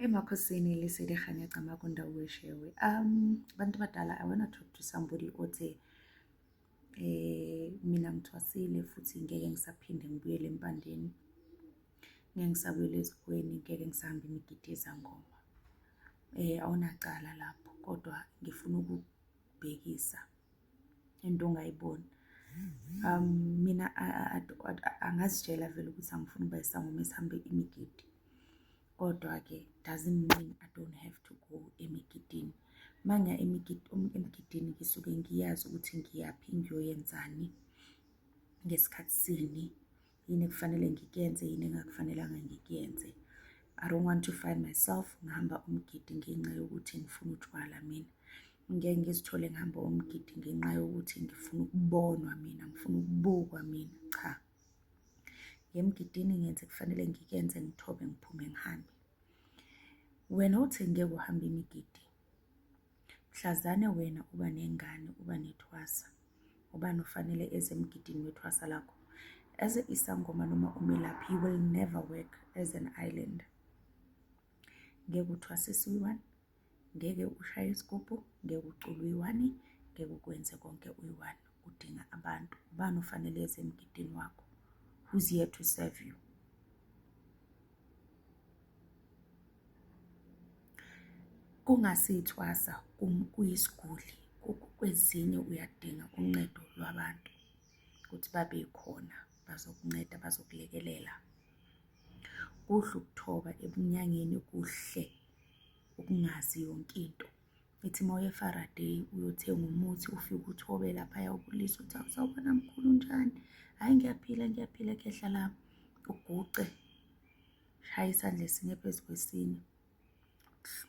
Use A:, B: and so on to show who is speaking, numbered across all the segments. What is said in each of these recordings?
A: emakhosini lisedihanya camaku ndawo weshewe um abantu badala i wanna talk to somebody othe eh mina ngithwasile futhi ngeke ngisaphinde ngibuyele empandeni ngeke ngisabuyele ezikweni ngeke ngisahambe imigidi yezangoma eh awunacala lapho kodwa ngifuna uku ukubhekisa into ongayiboni um mina angazitshela vele ukuthi angifuni ukuba isangoma esihambe imigidi kodwa-ke doesn't mean i don't have to go emigidini uma ngiya emigidini ngisuke ngiyazi ukuthi ngiyaphi ngiyoyenzani ngesikhathi sini yini ekufanele ngikuyenze yini engakufanelanga ngikuyenze i don't want to find myself ngihamba umgidi ngenxa yokuthi ngifuna utshwala mina ngeke ngizithole ngihamba umgidi ngenxa yokuthi ngifuna ukubonwa mina ngifuna ukubukwa mina cha ngemgidini ngenze kufanele ngikuyenze ngithobe ngiphume ngihambe wena uthi ngeke uhambe imigidi Mhlazane wena uba nengane uba nethwasa ubani ufanele eze emgidini wethwasa lakho as a isangoma noma umelaphi you will never work as an island ngeke uthwasise uyi-one ngeke ushaye isigubhu ngeke ucule uyi-one ngeke ukwenze konke uyi-one udinga abantu ubani ufanele eze emgidini wakho who's here to serve you Kungase ithwasa kuyisiguli kwezinye uyadinga uncedo lwabantu ukuthi babe khona bazokunceda bazokulekelela. Kuhle ukuthoba ebunyangeni kuhle ukungazi yonke into. Ithi uma uye eFaraday uyothenga umuthi ufike uthobe laphaya ubulise uthi awusawubona mkhulu unjani? Hhayi ngiyaphila ngiyaphila kuyehla la uguce shaye isandla esinye phezu kwesinye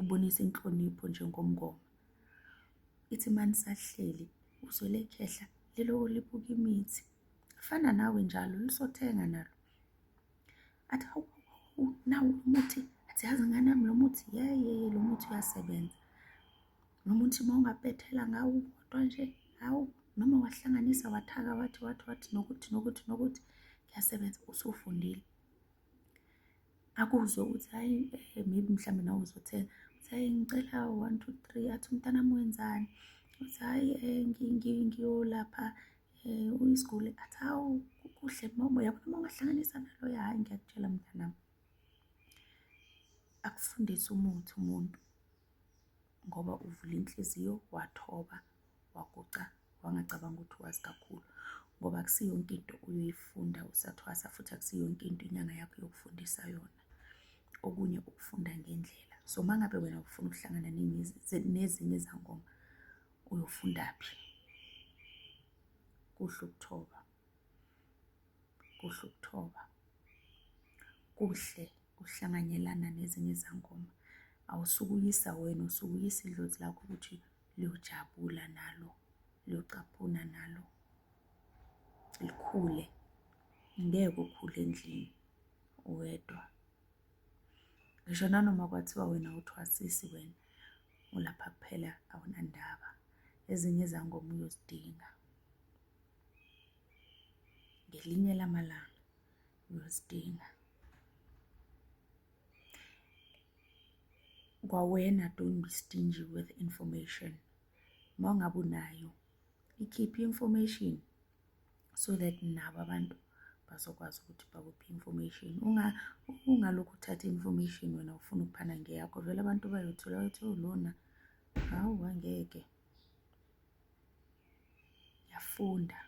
A: ubonisa inhlonipho njengomngoma. Ithi uma nisahleli uzwele khehla liloko libuka imithi. Fana nawe njalo lisothenga nalo. athi hawu hawu nawu lo muthi athi yazi ngane yami lo muthi yeye lo muthi uyasebenza lo muthi uma ungabhethela ngawo kodwa nje hawu noma wahlanganisa wathaka wathi wathi wathi nokuthi nokuthi nokuthi kuyasebenza usufundile akuzwe ukuthi hayi eh, maybe mhlawumbe nawe uzothenga uthi hayi ngicela one two three athi umntanami wenzani uthi hayi um ngiyolapha Uyisiguli athi hawu kuhle mama uyabona uma ungahlanganisa naloya hhayi ngiyakutshela mntanami. Akufundise umuthi umuntu ngoba uvula inhliziyo wathoba waguqa wangacabanga ukuthi wazi kakhulu ngoba akusiyo yonke into uyoyifunda usathwasa futhi akusiyo yonke into inyanga yakho yokufundisa yona. Okunye ukufunda ngendlela so uma ngabe wena ufuna ukuhlangana nezinye izangoma. uyofundaphi kuhle ukuthoba kuhle ukuthoba kuhle ukuhlanganyelana nezinye izangoma awusukuyisa wena usukuyisa idlozi lakho ukuthi liyojabula nalo liyocaphuna nalo likhule ngeke ukhule endlini uwedwa Ngisho nanoma kwathiwa wena awuthwasisi wena ulapha kuphela awunandaba. Ezinye izangoma uyozidinga. Ngelinye lamalanga uyozidinga. Kwawena don't be stingy with information. Uma ngabe unayo ikhiphe i-information so that nabo abantu bazokwazi ukuthi bakuphi information ungalokhu uthatha information wena ufuna ukuphana ngeyakho vele abantu bayothola bathi oh, lona hawu angeke yafunda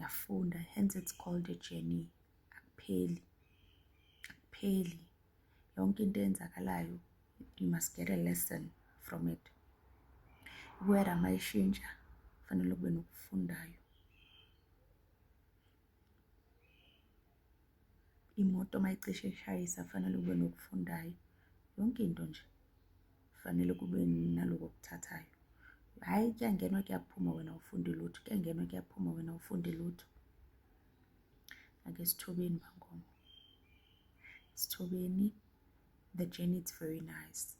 A: yafunda hence it's called a journey akupheli akupheli yonke into eyenzakalayo you must get a lesson from it iwera uma ishintsha kufanele kube nokufundayo imoto uma icishe ishayisa kufanele kube nokufundayo yonke into nje kufanele kube naloko okuthathayo hhayi kuyangenwa kuyaphuma wena ufunde lutho kuyangenwa kuyaphuma wena ufunde lutho ake sithobeni bangoma Sithobeni, the journey it's very nice.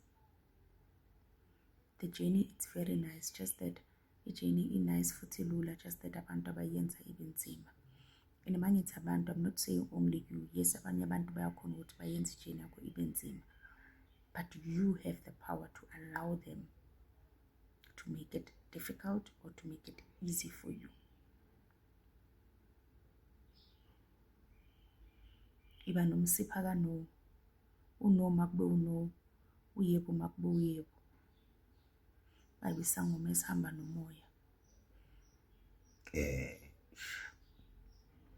A: The journey it's very nice just that i-journey i-nice futhi lula just that abantu abayenza ibe nzima. And uma ngithi abantu I'm not saying only you. Yes abanye abantu bayakhona ukuthi bayenze i-journey yakho ibe nzima. But you have the power to allow them to make it difficult or to make it easy for you. Iba nomsipha ka-no. U-no makube u-no, uyebo makube uyebo. Babe isangoma esihamba nomoya.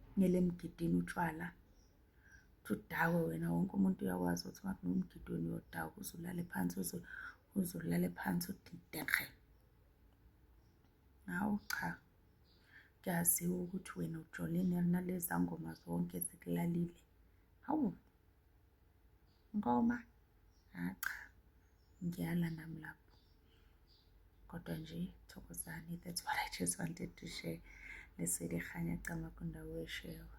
A: Kumele emgidini utshwala ukuthi udakwe wena wonke umuntu uyakwazi ukuthi uma kunomgidi wena uyodakwa uze ulale phansi uze ulale phansi udidekhe. Hawu cha, kuyaziwa ukuthi wena ujolile naleza ngoma zonke zikulalile. Hawu, Nkomo, hha cha, ngiyala nami lapho. Kodwa nje thokozani, that's what I just wanted to share. Leseli Kganya Camagu Ndawo Eshewa.